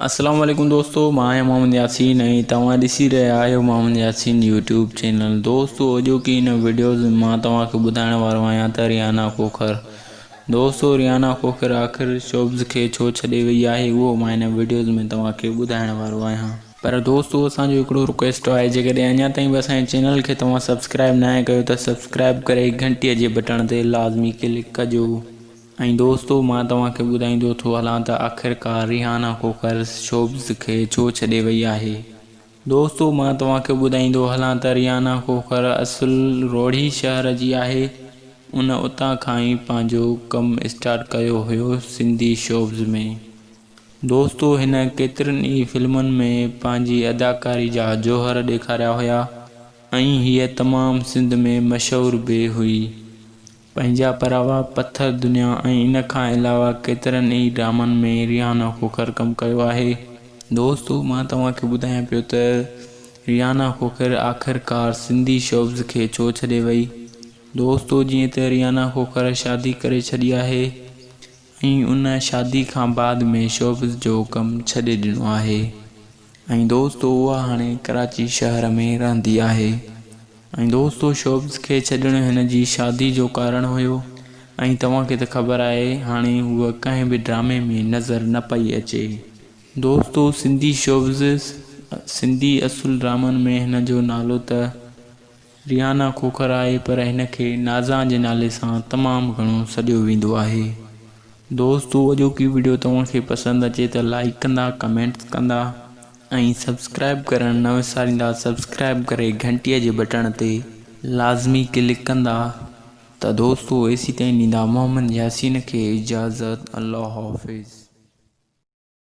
السلام عليڪم دوستو مان آهيان محمد ياسين ۽ توهان ڏسي رهيا آهيو محمد ياسين يوٽيوب چينل دوستو اڄوڪي هن وڊيوز ۾ مان توهان کي ٻڌائڻ وارو آهيان ته ريانا کوکر دوستو ريانا کوکر آخر شوبز کي ڇو ڇڏي وئي آهي اهو مان هن وڊيوز ۾ توهان کي ٻڌائڻ وارو آهيان پر دوستو اسان جو هڪڙو رڪويسٽ آهي جيڪڏهن اڃا تائين به اسان جي چينل کي توهان سبسڪرائب ناهي ڪيو ته سبسڪرائب ڪري گهنٽي جي بٽڻ تي لازمي ڪلڪ ڪجو. ۽ دوستو مان توهان کي ٻڌائيندو ٿو هلان ته آخرڪار ريحانه کوکر شوبز کي ڇو ڇڏي وئي آهي. دوستو مان توهان کي ٻڌائيندو هلان ته ريحانه کوکر اصل روهڙي شهر جي آهي ان اتان کان ئي پنهنجو ڪم اسٽارٽ ڪيو هيو سنڌي شوبز ۾ دوستو هن ڪيترين ئي فلمن ۾ پنهنجي اداڪاري جا جوهر ڏيکاريا هيا ۽ هيء تمام سنڌ ۾ مشهور به هئي پنهنجا پراوا پٿر دنيا ۽ ان کان علاوه ڪيترن ئي ڊرامن ۾ ريحانه کوکر ڪم ڪيو آهي دوستو مان توهان کي ٻڌايان پيو ته ريحانه کوکر آخر ڪار سنڌي شوبز کي ڇو ڇڏي وئي دوستو جيئن ته ريحانه کوکر شادي ڪري ڇڏي آهي ۽ ان شادي کان بعد ۾ شوبز جو ڪم ڇڏي ڏنو آهي ۽ دوستو اها هاڻي ڪراچي شهر ۾ رهندي آهي ۽ دوستو شوبز کي ڇڏڻ هن جي شادي جو ڪارڻ هيو ۽ توهان کي ته خبر آهي هاڻي هوء ڪنهن به ڊرامي ۾ نظر نه پئي اچي دوستو سنڌي شوبز سنڌي اصل ڊرامن ۾ هن جو نالو ته. ريحانه کوکر آهي پر هن کي نازان جي نالي سان تمام گهڻو سڏيو ويندو آهي. دوستو اڄوڪي وڊيو توهان کي پسند اچي ته لائيڪ ڪندا ڪمينٽس ڪندا ۽ سبسڪرائيب ڪرڻ نه وساريندا سبسڪرائيب ڪري گهنٽي جي بٽڻ تي لازمي ڪلڪ ڪندا ته دوستو ايسي تائين ڏيندا محمد ياسين کي اجازت الله حافظ.